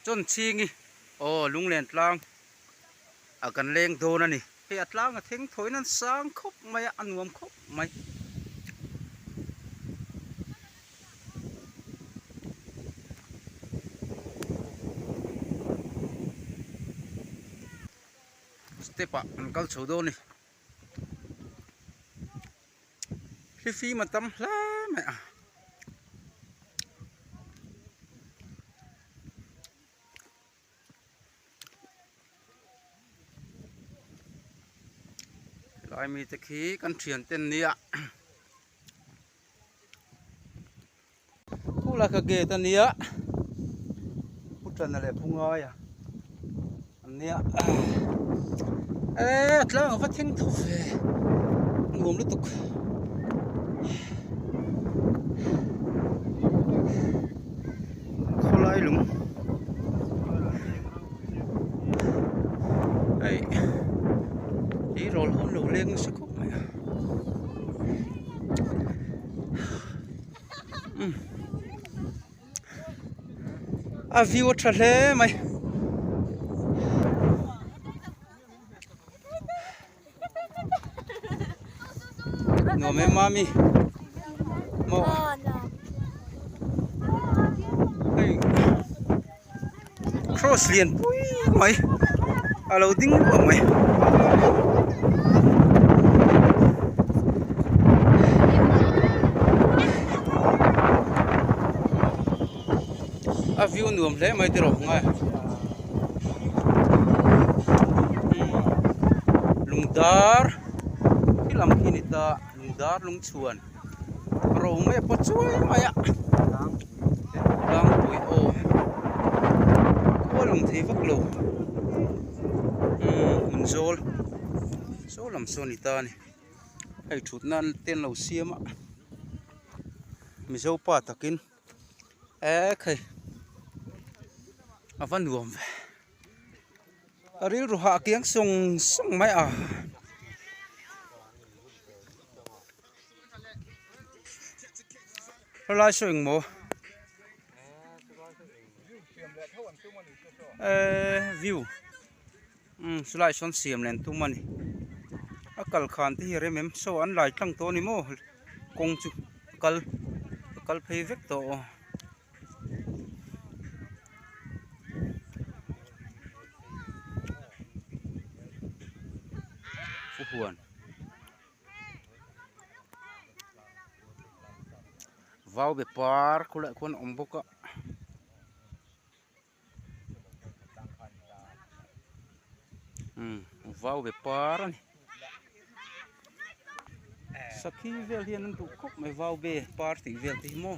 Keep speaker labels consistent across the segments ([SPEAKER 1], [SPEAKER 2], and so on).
[SPEAKER 1] Chawn chhing i, Aw, lunglen tlang a kan leng dawn a ni. Hei a tlang a theng thawiin an sang khawp mai a, a nuam khawp mai. Step ah an kal chho dawn a ni. Hi fim a tam hle mai a. Lai mi te khi kan thian ten nia. Khawh lai kha gate a nia. Pu Tana leh Phu Ngaia an nia. E tlang a va thing tho fe. Nuam lutuk. Khawlai lung. Ei. Ei rol hon lo leng nasa khawp mai a. a view a tha hle mai nuam em mami hei. Cross lian pui mai a lo ding luah mai. A view nuam hle mai tiraw hmanga e. Lungdar khi lam khi ni ta lungdar lungchhuan. rau mai a pawt chuai mai a tlangpui aw khua lung thei vak lo umm hun zawl saw lam saw a ni ta a ni hei thut nan te an lo siam a mizo pa takin ekhei a va nuam ve a rilru hah kiang sawng sawng mai a. Helai saw engmaw ehh view umm chulai sawn siam len tum a ni a kal khan te hi a rem em saw an lai tlang tawh a ni maw kawng chu a kal a kal phei vek tawh aw. vau be par khawlah khuan a awm bawk a umm vau be par a ni sakhi vel hian an duh khawp mai vau be par tih vel te hi maw.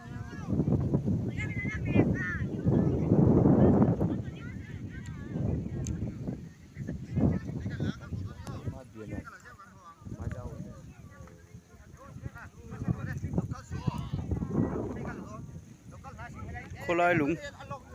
[SPEAKER 1] khawlai lung.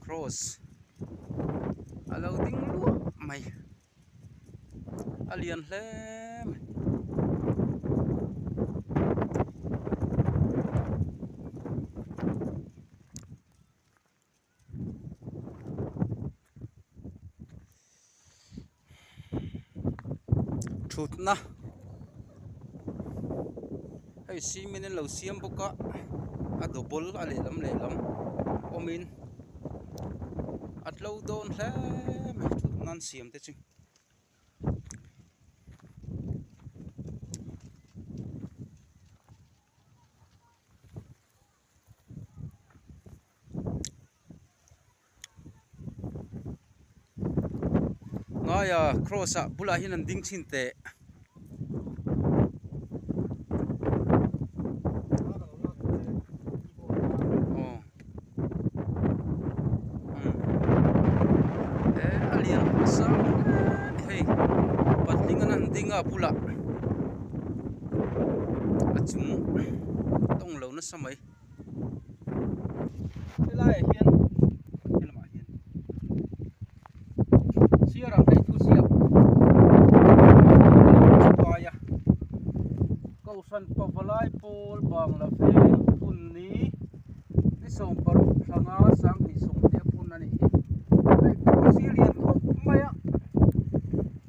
[SPEAKER 1] Cross a lo ding luah mai a lian hle mai. thutna hei cement in lo siam bawk a a doubol a lehlam lehlam awm in a tlo dawn hle mai thutna an siam te chu. ngaia cross ah bulah hian an ding thin teh aw he a lian pawh sang em ni hei patling an han ding a a bulah a chung tawng-- hmang lo nasa mai. Helai ah hian helamah hian sir ang thei thu siap paia kausan pavalai pawl bang la ve phun ni ni som paruk thlanga sang ni som te phun ani hi hei thu sir lian khawp mai a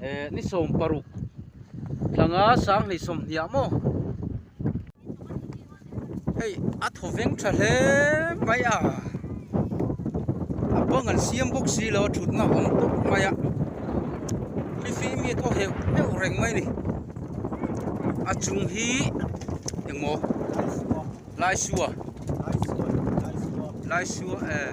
[SPEAKER 1] e ni som paruk tlanga sang nei sawm hniah maw hei a thaw veng tha hle mai a a bang an siam bawk si lo thutna awm tawh mai a fifi mi a thaw heuh heuh reng mai ni a chung hi emaw lai sua lai sua eh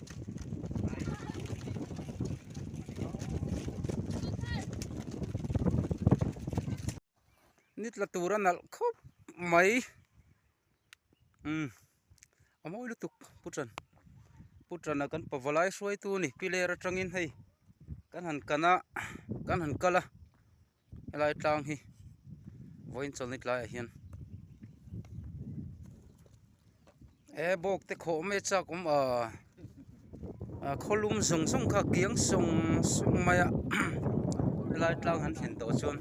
[SPEAKER 1] ni tla tura nalh khawp mai umm a mawi lutuk pu tan pu tan a kan pava lai hruai tu a ni pilar atangin hei kan han kan a kan han kal a. Helai tlang hi vawiin chawl ni tlaiah hian ee bawk te khawh mai chak awm a a khawlum zawng zawng kha a kiang sawng sawng mai a helai tlang han thlen tawh chuan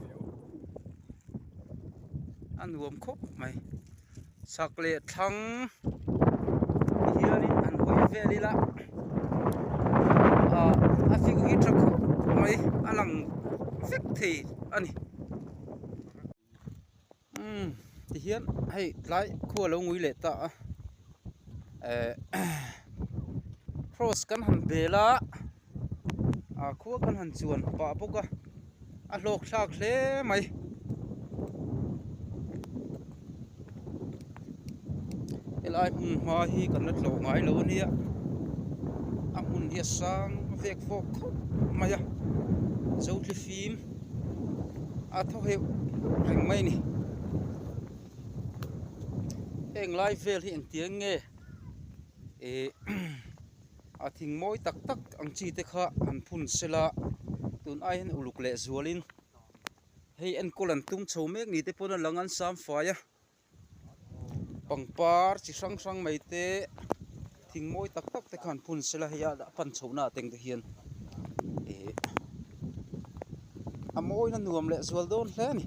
[SPEAKER 1] a nuam khawp mai. Chak leh thlang hialin an hawi vel ila a view hi tha khawp mai a lang vek thei a ni umm tihian hei tlai khua lo ngui leh ta a eh cross kan han bel a. a khua khan han chuan pah bawk a a hlawk thlak hle mai helai hmun hma hi kan la tlawh ngai lo ania a hmun hi a sang vek vawk khawp mai a zotli fim a thaw heuh reng mai a ni heng lai vel hi engtiang nge ehh. A thing mawi tak tak ang chi te kha an phun sel a, tun ai hian uluk leh zual in hei enkawl an tum chho mek ni te pawn a lang an sam fai a, pangpar chi hrang hrang mai te thing mawi tak tak te kha an phun sel a hei a dah pan chho na ateng te hian ih a mawi na nuam leh zual dawn hle a ni.